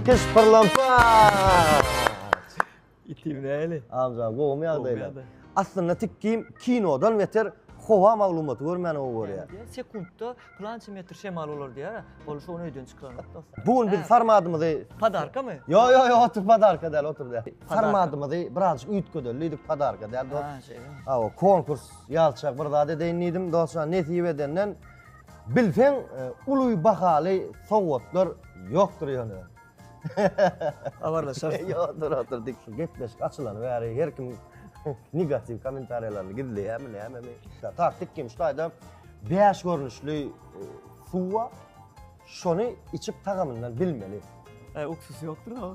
Kys pyrlampat. Itim näli? Amca gowumy ýagdaýlar? Gowumy ýagdaý? Aslynda tikgim kinodan beter howa maglumaty görmäni gowy görýär. Sekuntda plança metr şemal bolar diýýär. Ol şony öýden çykaranok dostlar. Bu gün biz formatymyzy Podarkamy? Ýok ýok ýok otur podarka däl otur däl. Formatymyzy birazjyk üýtgedelim diýdik podarka däl dost. Ha şeýlemi? Hawa konkurs ýazşak bir zat edeýin diýdim dostlar nesip edenden Bilseň uly bahaly sowgatlar ýokdur ýöne. Habarlaşarys. Ýokdur otur dik şu gepleşik açylany bäri her kim negatiw komentariýalaryny gizleýämi nämemi. Tar tik kim şu taýda bäş görnüşli suw bar. Şony içip tagamyndan bilmeli. Ä uksus ýokdur-a.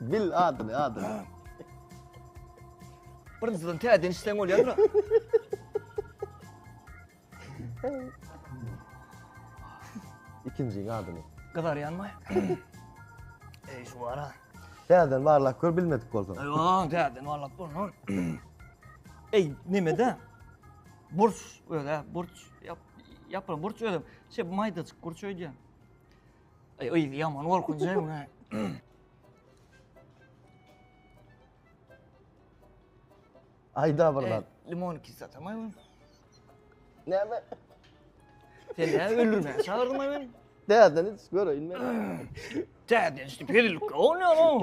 Bil adyny, adyny. Birinjiden täzeden içseň bolýar. Ikinjiň adyny. Gyzarýanmy? Ey şu wara. Täzeden barlap gör bilmedik bolsaň. Aýwa, täzeden barlap gör. Ey, nemede? Burç özi-ä, burç. Ýap, ýapylan burç özem. Şe maýdajyk burç öýdýän. Aý, yzy ýaman gorkunç-aý muny. Aýda bir zat. Limon kislotam-aý bu. Näme? Sen näme öldürmäge çagyrdyň-aý meni? Täzeden iç, göreýin men. Täzeden içdi, pedillikkä bolmaýar-ow.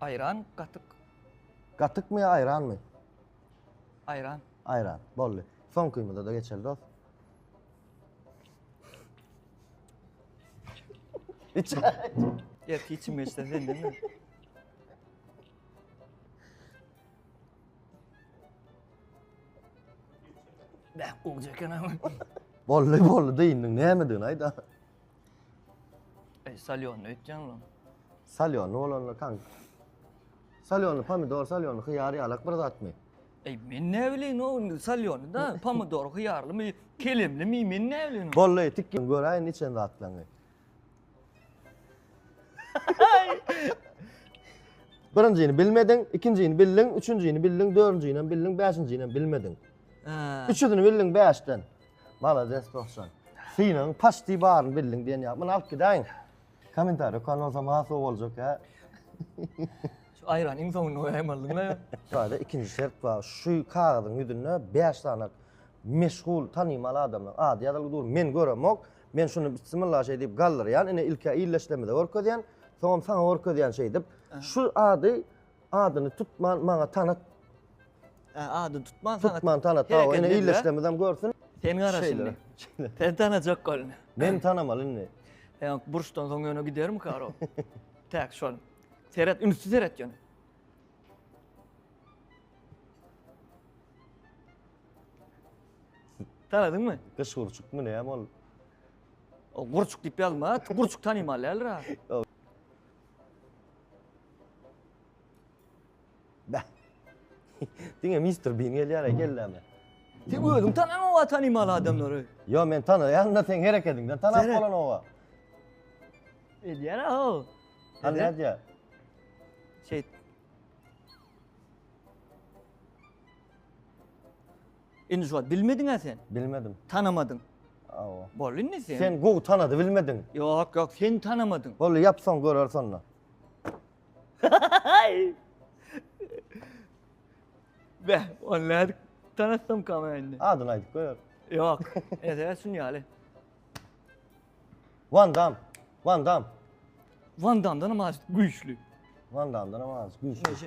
Aýran gatyk. Gatykmy ýa aýranmy? Aýran. Aýran. Boldy. Soňkymyza-da geçeli dos. Iç. Erki içim geçse sendemi? Bäh, gowy eken ama. Boldy, boldy, dyndyň. Nämedigini aýt-a. Ey, salýonly öýtýän olam. Salýonly bolanda kan. Salýonly pomidor, salýonly hyýar ýalak bir zatmy? Ey, men ne bileyim o indi salýonly da, pomidor hyýarlymy, kelemlimi, men ne bileyim. Bolly, tik gel göräýin içen zatlaňy. Birinjini bilmediň, ikinjini bildiň, üçünjini bildiň, dördünjini hem bildiň, bäşinjini hem bilmediň. Üçüsini bildiň bäşden. Malades dostjan. Synagyň paçti baryny bildiň diýen ýaly. Muny alyp gidäýiň. Kommentariýa okan bolsam has gowy boljak ýa. Şu aýrany iň soňunda goýaýym aldyňla. Şaýda ikinji şert bar. Şu kagyzyň ýüzünde 5 sany meşhur, tanymal adamlaryň ady ýazylgy dur. Men göremok. Men şuny bismillah şeý diýip galdyrýan. Ine ilk-ä illeşlemize görkezýän. Soňam saňa görkezýän şeýdip. Şu ady Adyny tutman maňa tanat. Ä, ady tutman sana. Tutman tanat. Hawa, Hereket ine edýär. illeşlerimiz hem görsün. Sen gara Şeýle, şimdi. şeýle. Sen tanajak golny. Men tanamaly indi. Sen burçdan soň ýöne giderim karo. Täk şol. Seret, ünsi seret ýöne. Tanadyňmy? Gyş gurçukmy näme ol? O gurçuk diýip ýazma. Gurçuk tanymaly däldir ha. Bäh. Diňe Mister Bean gelýär, kelleme. Sen özüň tanan owa tanymal adamlary. Yo men tanaýan da sen hereketiňden tanap Seret. bolan owa. Edýär o. Hal Edýär. nädýär? Şeýt. Indi şu wagt bilmediňä sen? Bilmedim. Tanamadyň. Awa. Boldy indi sen. Sen gowy tanady bilmediň. Ýok, ýok, sen tanamadyň. Boldy, ýap soň göreris onda. Be, ol nädik tanasam kama indi. Adyny aýdyp goýar. Ýok, ede şun ýaly. Van Dam. Van Dam. Van Damdan hem az güýçli. Van Damdan hem az güýçli. Neşe.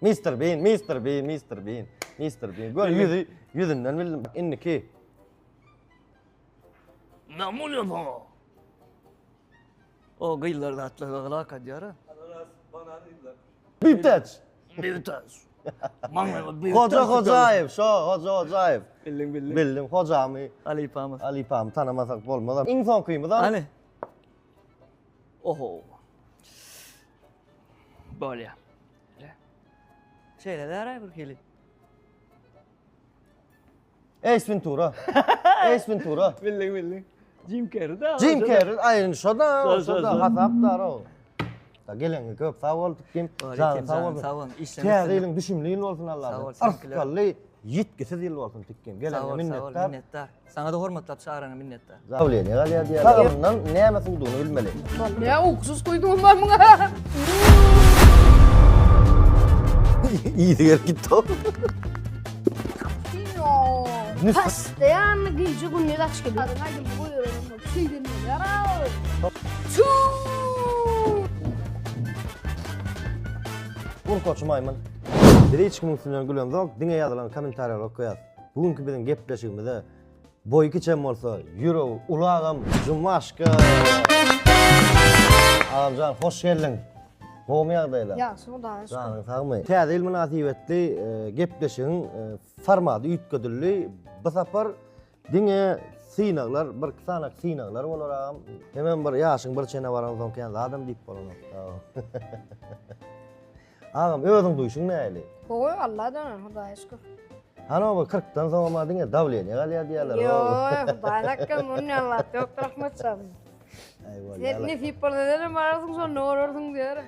Mister Bean, Mister Bean, Mister Bean, Mister Bean. Gör ýüzi, ýüzünden bildim. Indiki. Näme bolýar saňa? O gyzlar zatlaga gylak edýär. Ananas, banan gyzlar. Bitaç. Bitaç. Hoca Hojaýew, şo Hoja Hojaýew. Bildim, bildim. Bildim, hojamy. Alypamy. Alypamy tanamasak bolmaz. Iň soňkymyz. Hany? Oho. Bolýa. Şeýle bäraý bir hili. Ace Ventura. Ace Ventura. Bildik bildik. Jim Carrey da. Jim Carrey aýyn şoda, şoda hasapdar o. Da geleni köp sag bol dikim. Sag sag bol. Sag bol. Täze ýylyň düşümli ýyl bolsun Allah'a. Sag bol. Arkaly ýitgisiz ýyl bolsun dikim. Geleni minnetdar. Minnetdar. Saňa-da hormatlap çagyrana minnetdar. Dawleniýe galýar diýýär. Lagymyndan näme suwdugyny bilmeli. Näme ukusuz guýdugyň bar muňa? Ýiti gelip gitdi-ow. Postoýanny gije gündiz aç gelýär. Aýdymy goýbereniň bolup şeýden bolýar-ow. Çuu! Urkaçy maýmyn. Bize hiç kimiň üstünden gülen zok, diňe ýazylan kommentariýalary okaýas. Bu günki biziň gepleşigimize boýy kiçem bolsa, ýüregi uly agam Jumaşka. Agamjan, hoş geldiň. Gowmy ýagdaýlar? Ýagşy, Hudaýa şükür. Janyň sagmy? Täze ýyl mynasybetli e, gepleşigiň e, formaty üýtgedildi. Bu sapar diňe synaglar, bir iki sany synaglar bolar agam. Hemem bir ýaşyň bir çene baran soň kän zadam diýip bolanok. Agam özüň duýşuň näli? Gowy Alladan Hudaýa şükür. Hany bu 40 dan soň ma diňe dawleniýe galýar diýýärler. Ýoý Hudaýyň hakkam muny näme wagt ýok Rahmat jan. Sen nesip bolsa senem bararsyň şonda görersiň diýer.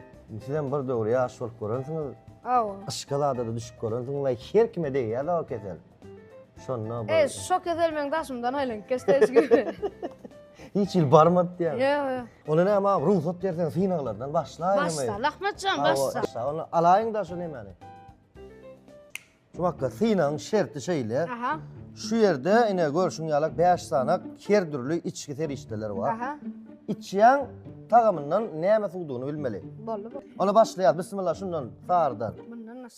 Sizem bir döwür ýaş bolup görensiňiz. Hawa. Yşka zada-da düşüp görensiňiz. Her kime degýär-de o kesel. Şonda bu. E, şok ezelmen daşymdan aýlanyp geçdi hiç gibi. Hiç il barmadyp ýa. Ýa, ýa. Ola näme abi, rugsat bersen synaglardan başlaýyn. Başla, Ahmetjan, başla. Başla, onu alaýyn da şu nemeni. Şu wagtda synagyň şerti şeýle. Aha. Şu ýerde ine görşüň ýalak 5 sanak her dürli içki serişdeler bar. Aha. Içýän tagamyndan näme suwdugyny bilmeli. Boldy bu. Ola başlaýar. Bismillah şundan sardan. Bundan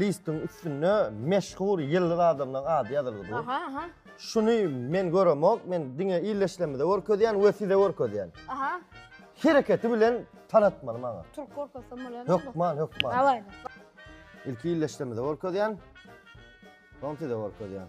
Listiň üstünde meşhur ýyldyz adamlaň ady ýazylgy dur. Aha, aha. Şuny men göremok, men diňe illeşlemize görkezýän we size görkezýän. Aha. Hereketi bilen tanatmaly maňa. Türk görkezsem bolýar. Hökman, hökman. Daway. Ilki illeşlemize görkezýän. Soň size görkezýän.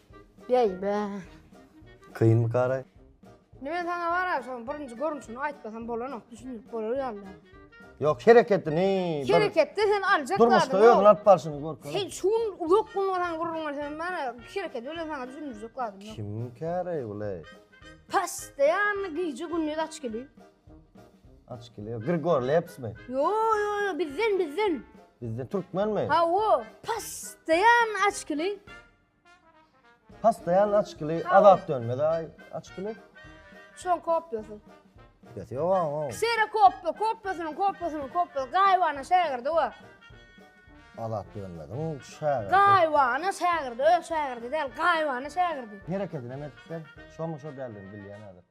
Beýbä. Kynmy Gara? Indi men saňa bara şoň birinji görnüşini aýtmasam bolanok, düşündirip bolar ýaly. Ýok, hereketi ne? Hereketde sen aljak zadyň ýok. Durmuşda özüni alyp barşyny görkezip. Sen şu gün uzak gün saňa gürrüň berseň bara hereketi bilen saňa düşündirjek zadym ýok. Kim käre bule? Postoýanny gije gündiz aç geliň. Aç geliň. Grigor Lepsmi? Ýo, ýo, ýo, bizden, bizden. Bizden türkmenmi? Hawa, postoýan aç geliň. Pastaýan açkyly azap dönmez aý açkyly. Şoň kopyasy. Geti ýok aň o. Sera kopy, kopysynyň kopysynyň kopy. Gaýybana şägirdi bu. Azat dönmediň şägirdi. Gaýybana şägirdi, öz şägirdi däl, gaýybana şägirdi. Hereketinem edipdir. Şomy şo däldigini bilýän häzir.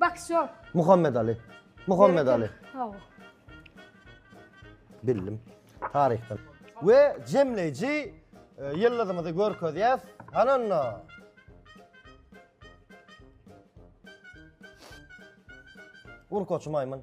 Boksör. Muhammed Ali. Muhammed Ali. Hawa. Bildim. Taryhdan. We jemleýji e, ýyldyzymyzy görkezýäs. Hananda. Urkaçy maýmyn.